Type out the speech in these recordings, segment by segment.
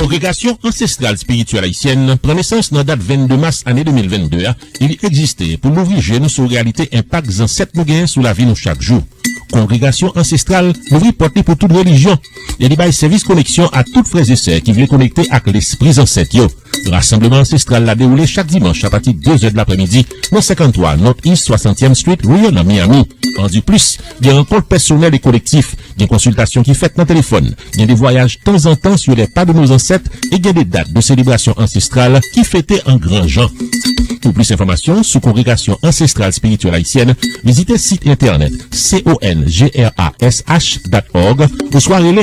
Kongregasyon Ansestral Spirityèl Ayisyèn pran nesans nan dat 22 mas ane 2022 a e li egziste pou louvri je nou sou reyalite enpak zansèt nou gen sou lavi nou chak jou. Kongregasyon Ansestral louvri pòt li pou tout relijyon e li bay sèvis koneksyon a tout frè e sè ki vle konekte ak lespri zansèt yo. Rasanbleman Ansestral la dewoule chak dimanch apati 2 zè dlapremidi nan 53 North East Swasantyèm Street Rear nan Miami. Andiplis, gen rankont pèsonèl e kolektif, gen konsiltasyon ki fèt nan telefòn, gen de vwayaj tanzantan sur les pas de nos ancêtres e gen de dat de selebrasyon ansestral ki fete an gran jan. Pou plis enfòmasyon sou Kongregasyon Ansestral Spirityèl Ayisyèn, vizite sit entènèt congregationsansestral dot org oswa rele.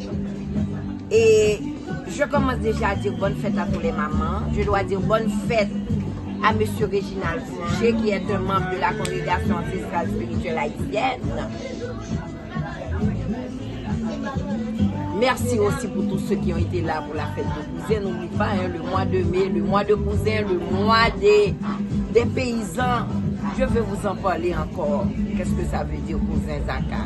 e je komanse deja a dir bonne fête a tou lè manman, je dwa dir bonne fête a mesye Reginald Fouché ki è un manb de la kongregasyon ansestral espirityèl ayisyèn. Mèsi osi pou tou se ki yon ete la pou la fèt de kouzen, nou bli pa hein, le mwa de me, le mwa de kouzen, le mwa de de peyizan, je ve vous an pale ankò, kèske sa ve dir kouzen zaka.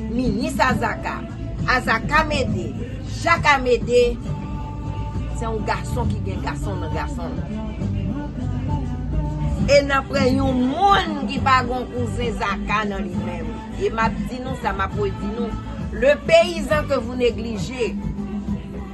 Minis Azaka, Azaka Mede, Jak Amede, se yon gason ki gen gason nan gason l. E nan pran yon moun ki pa gen yon kouzen Zaka nan li menm. E m ap di nou sa, m ap redi nou, le peyizan ke vou neglije,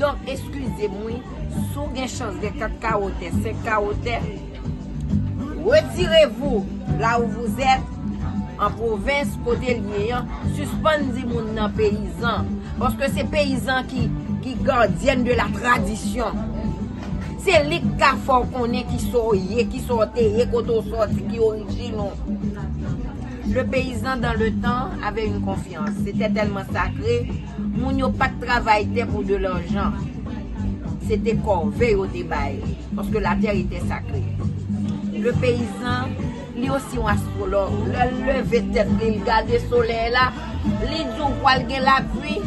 Doc eskizem wi, si w gen chans gen 4 kawo tè, 5 kawo tè, retirez vous là où vous êtes en province kote l ye an, sispann di moun nan peyizan, paske se peyizan ki gardienne de la tradition. Se li k ka fè w konnen kisa w ye, kisa w te ye, kote w sòti, ki orijin ou. Le paysan dans le temps avait une confiance, c'était tellement sacré, Moun yo pat travay tè pou de lanjan. Se te kòve yo te bay. Paske la tè etè sakre. Le peyizan, li osi yon astwològ. Lè l leve tèt li, li gade solèy la, li di w pwal gen lapwi,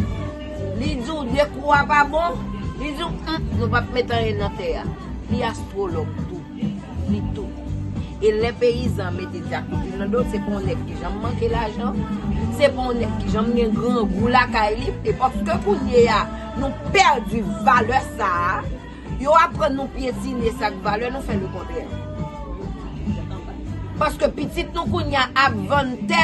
li di w de kou a pa bon, li di w, nou pap met anyen nan tè a. Li astwològ tou. Li tou. E lè peyizan mete dyakout nan do l, se pa yon nèg ki janm manke lajan, se pa yon nèg ki janm gen grangou lakay li. E paske kounye a, nou pèdi valè sa a, yo aprann nou pyetine sa k valè, nou fè lekontrè. Paske pitit nou kounye a ap vann tè.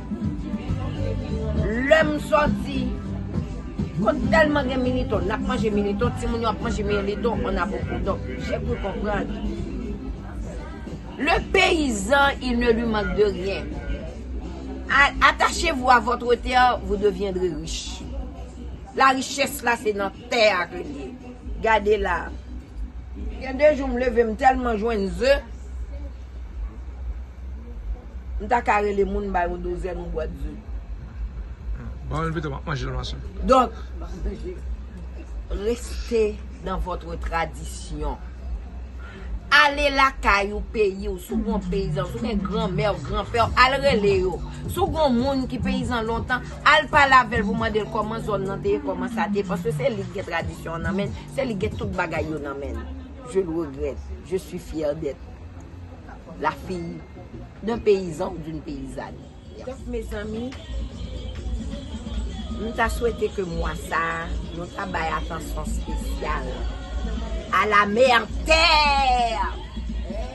Lèm sòti Kot tèlman gen militon Nap manje militon Timoun yo ap manje militon On a beaucoup Donk jè kru konprann Le peyizan il ne lui mank de ryen Atache vou a vòtre tè Vou devyendre rich La richès la se nan Tè a ke l ye. Gade la a. Gen de jou m leve m tèlman jwenn ze, m ta ka rele moun m bay yon dozèn yon bwat ze. Ban l pito m ap manje l machè. Donk, reste dans votre tradition. Ale lakay ou, peyi w, si w gen yon peyizan, si w gen granmè w, granpè w, al rele yo. Si w gen yon moun ki peyizan lontan. Al pale avèl pou mandel kòman zòn nan te ye kòman sa te ye paske se lik gen tradisyon an nan menn se lik gen tout bagay yo nan menn je le regrette je suis fière d'être la fille d'un paysan ou d'une paysanne donc mes amis m ta swete ke mwa sa nou ta bay atansyon spesyal a la mère terre!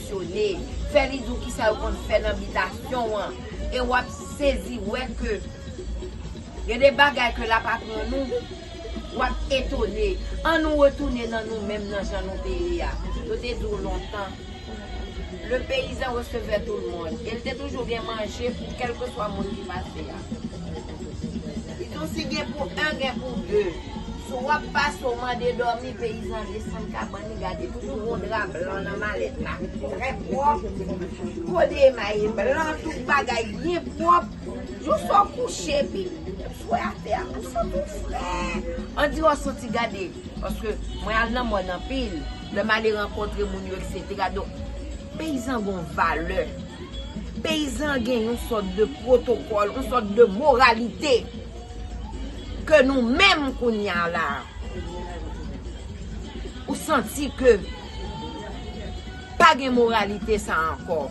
fonksyone, fè li di w kisa yo konn fè nan bitasyon an, e w ap sezi wè ke gen de bagay ke l ap aprann nou, w ap etone. An nou retounen nan nou menm nan jan nou te ye a. Yo te di w lontan, Le paysan recevait tout le monde, e l te toujou gen manje pou kèlkeswa moun ki pase a. Li di w si gen pou 1, gen pou 2. Si w ap pase, w mande dòmi, peyizan desann kabann Gade toujou gon dra blan nan malèt la trè pwòp po de Emma ye blan tout bagay byen pwòp jou sa w kouche epi ou swe atè a ou santi w fre andire w santi gade paske mwen al nan mòn anpil lè m ale rankontre moun yo eksetera donk peyizan gon valè peyizan gen yon sòt de pwotokòl yon sòt de moralite. Ke nou menm kounya la. Ou santi ke. Pa gen moralite sa anko.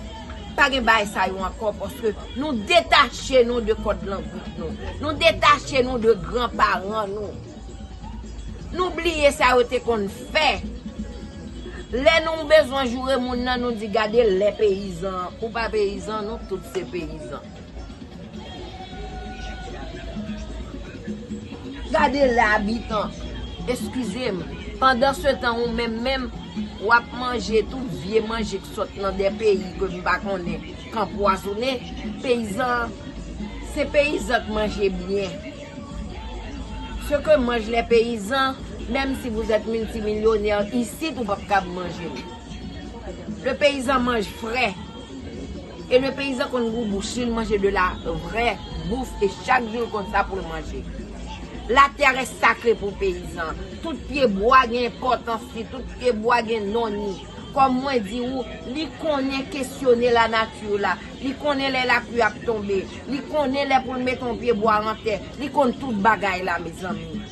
Pa gen bay sa yo anko. Paske nou detache nou de kod langout nou. Nou detache nou de gran paran nou. Nou bliye sa yo te konn fe. Le nou bezwen joure moun nan nou di gade le peyizan. Ou pa peyizan nou tout se peyizan. Gade la bitan, eskize m, pandan se tan ou menm menm w ap manje tout vye manje k sot nan de peyi ke m pa konnen, k anpwazone, peyizan an, se peyizan k manje byen. Ce que mangent les paysans, menm si vous êtes multimilyonè isit ou p ap kab manje l. Le peyizan manj fre. E le peyizan konn gou bouch li, li manje de la vrè bouf e chak jou l konn sa pou l manje. La terre est sacrée pou peyizan. Tout pye bwa gen enpòtans li, tout pye bwa gen non ni. Kòm mwen di ou, li konnen kesyone la nature la, li konnen lè la plu ap tonbe, li konnen lè pou l mete yon pye bwa an tè, li konn tout bagay la mezanmi.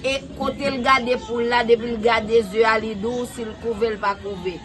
E kote l gade poul la depi l gade ze a li di w si l kouve l pa kouve.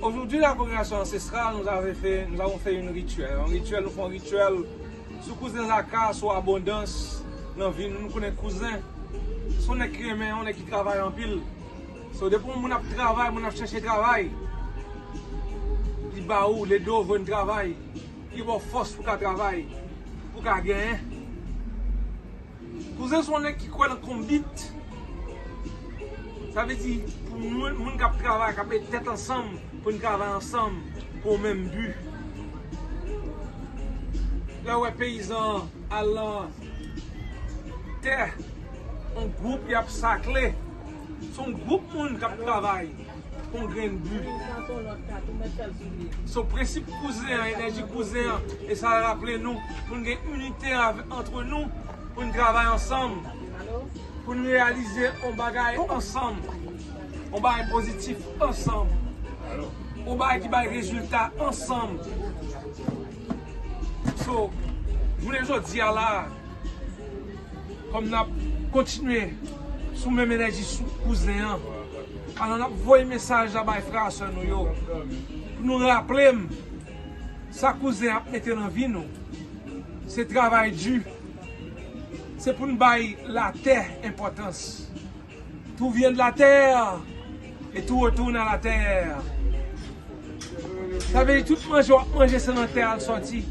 Aujourd'hui la congregation ancestrale nous avons fait nous avons fait une rituel un rituel nou fè yon rituel sou kouzen zaka sou abondans nan vi nou nou konnen kouzen son nèg ki renmen yon nèg ki travay anpil so depi yon moun ap travay moun ap chèche travay li ba ou l ede w jwenn travay li ba w fòs pou ka travay pou ka genyen Kouzen son nèg ki kwè nan konbit. Sa vle di pou moun moun kap travay kap met tèt ansanm poun travay ansanm pou yon menm bu. Lèw wè peyizan an al lan tè yon gwoup yap sakle son gwoup moun kap travay. Yon grenn bu. So prensip kouzen an, enèji kouzen an, e sa raple nou pou n gen inite antre nou, pou n travay ansanm, pou n reyalize yon bagay ansanm, yon bagay pozitif ansanm, yon bagay ki bay rezilta ansanm. So, jounen jodi a la a. Kom nap kontinye sou menm enèji sou kouzen an pandan nap voye mesaj la bay frè a sè nou yo pou nou raplem sa kouzen ap mete nan vi nou se travay di se poun bay latè enpòtans. Tout vient de la terre et tout retourne à la terre. Sa vle di tout manje wap manje se nan tè a l sòti.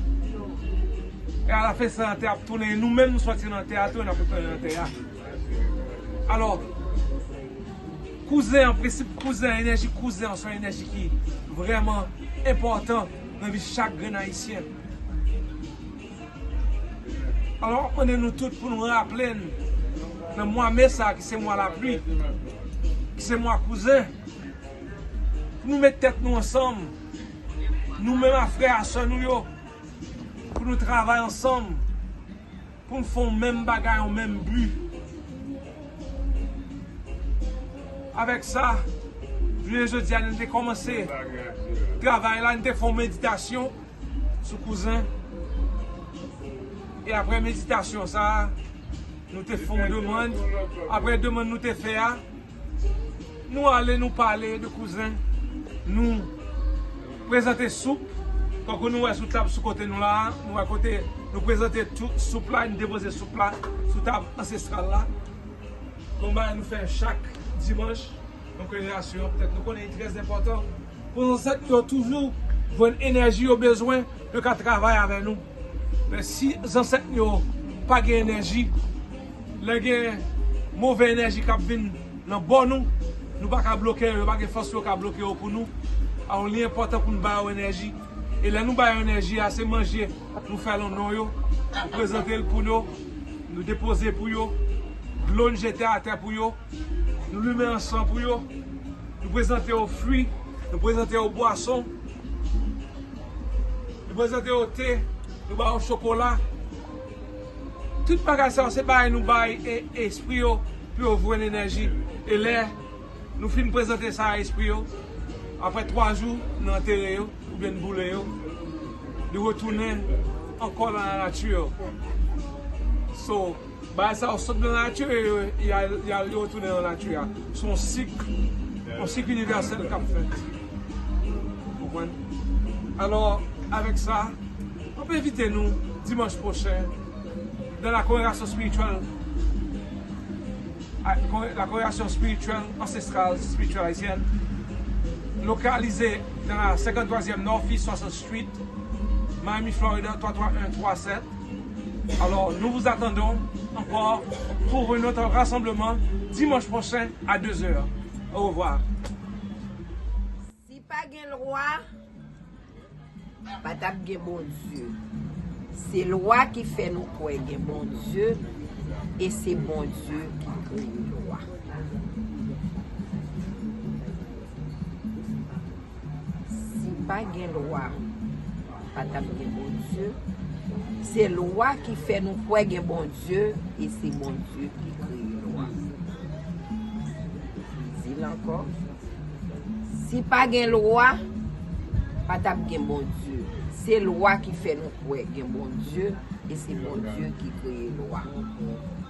E a la fen se nan tè a ap tounen. E nou menm nou sòti nan tè a tou e n ap retounen nan tè a. Alò, kouzen an, prensip kouzen an, enèji kouzen an se yon enèji ki vrèman enpòtan nan vi chak grenn ayisyen. Alò m ap mande nou tout pou nou raple n nan mwa me sa ki se mwa lapli, ki se mwa kouzen, pou nou met tèt nou ansanm, nou menm ak frè a sè nou yo, pou nou travay ansanm, pou n fè yon menm bagay, yon menm bi. Avèk sa, jounen jodi a nou te kòmanse travay la, nou te fè yon meditasyon. sou kouzen e aprè meditasyon sa nou te fon demann aprè demann nou te fè a nou ale nou pale de kouzen nou prezante soup tankou nou wè sou tab sou kote nou la nou wè kote nou prezante soup la nou depoze soup la sou tab ansestral la nou bay nou fè chak dimanch Nou konnen rasyon an petèt nou konnen li trè enpòtan pou zansèt nou yo toujou jwenn enèji yo bezwen pou yo ka travay avè nou. Men si zansèt nou yo pa gen enèji, lè gen move enèji k ap vin nan bò nou, nou pa ka bloke yo, yo pa gen fòs pou yo ka bloke yo pou nou. Alò li enpòtan pou nou ba yo enèji. E lè nou ba yo enèji a, se manje nou fè lan non yo, nou prezante l pou yo, nou depoze pou yo, dlo n jete atè pou yo. Nou limen ansan pou yo. Nou prezante yo fwi. Nou prezante yo bwason. Nou prezante yo te. Nou ba yo chokola. Tout bagay sa yo se bay nou bay espri yo pou yo jwenn enèji. E lè nou fin prezante sa a espri yo, apre 3 jou nou antere yo oubyen nou boule yo, li retounen ankò nan lanati yo. So. Bagay sa yo sot nan latu e yal yo tounen nan latu a. Se yon sik, yon sik inivèsèl kap fèt. Ou konprann? Alò, avèk sa, map envite nou dimanch pwochen nan la kongregasyon spirityèl, la kongregasyon spirityèl ansestral spirityèl ayisyèn, lokalize nan la 53 zièm Northeast 60 Street, Miami Florida 33137. Alors nous vous attendons encore pour un autre rassemblement dimanche prochain à 2 heures. Au revoir. Si pa gen lwa, pa tap gen Bondye. Se lwa ki fè nou kwè gen Bondye e se Bondye ki kreye lwa. Si pa gen lwa, pa tap gen Bondye. Se lwa ki fè nou kwè gen Bondye, e se Bondye ki kreye lwa. M di l ankò, si pa gen lwa, pa tap gen Bondye. Se lwa ki fè nou kwè gen Bondye, e se Bondye ki kreye lwa.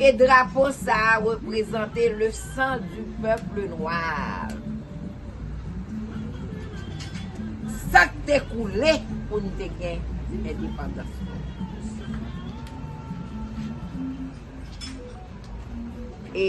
E drapo sa a reprezante le san di pèple noir. Sa k te koule pou n te gen endepandans nou. E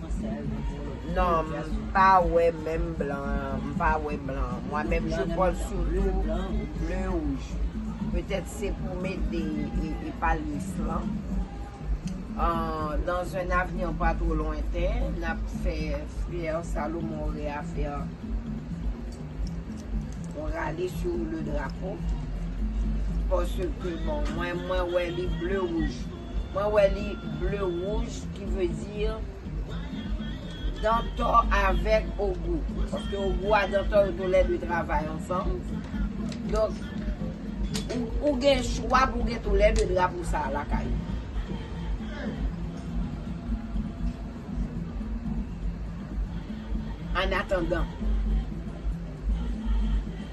Non m pa wè menm blan m pa wè blan mwen menm je pwòl sitou ble wouj petèt se pou mete e palyes lan dan zun avni pa two lwenten n ap fè fyè salomon reyafè yon rale sou le drapo pòske bon mwen mwen wè li ble wouj Mwen wè li bleu rouge ki veut dire Dantò avèk Ogou. Paske Ogou a Dantò yo tou lè 2 travay ansanm. Donk ou gen chwa pou gen tou lè 2 drapo sa a lakay ou. Annatandan.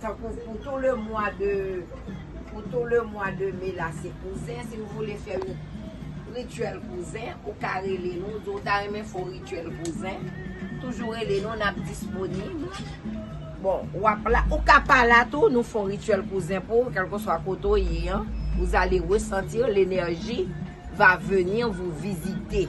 Tankou pou tou le mwa de pou tou le mwa de me la se kouzen si ou vle fè yon rituel kouzen ou ka rele nou di ou ta renmen fè yon rituel kouzen toujou rele nou n ap disponib bon w ap la ou ka pa la tou nou fè yon rituel kouzen pou ou kèlkeswa kote ou ye an vous allez ressentir l'énergie va venir vous visiter.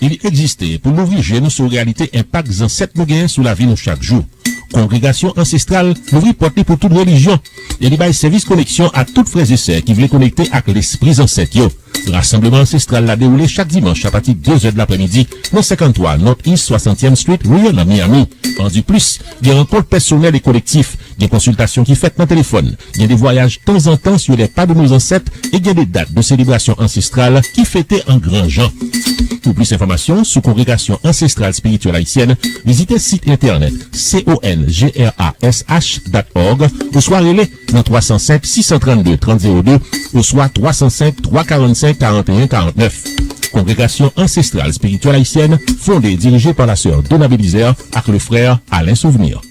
Li egziste pou louvri je nou sou reyalite enpak zansèt nou gen sou lavi nou chak jou. Kongregasyon Ansestral louvri pòt li pou tout relijyon e li bay sèvis koneksyon a tout frè e sè ki vle konekte ak lespri zansèt yo. Rasanbleman Ansestral la dewoule chak dimanch apati de zè dlapremidi nan 53 Northeast Swasantyèm Street Rear nan Miami. Andiplis, gen rankont pèsonèl e kolektif Gen konsiltasyon ki fèt nan telefòn, gen de vwayaj tanzantan sou lè pa de nou zansèt e gen de dat de selebrasyon ansestral ki fete an gran jan. Pou plis enfòmasyon sou Kongregasyon Ansestral Espirityèl Ayisyèn, vizite sit entènèt congrash dat org oswa rele nan 305 632 30 02 oswa 305 345 41 49. Kongregasyon Ansestral Espirityèl Ayisyèn fonde e dirije pa Lasè Dona Belizaire ak Lefrè Alain Souvenir.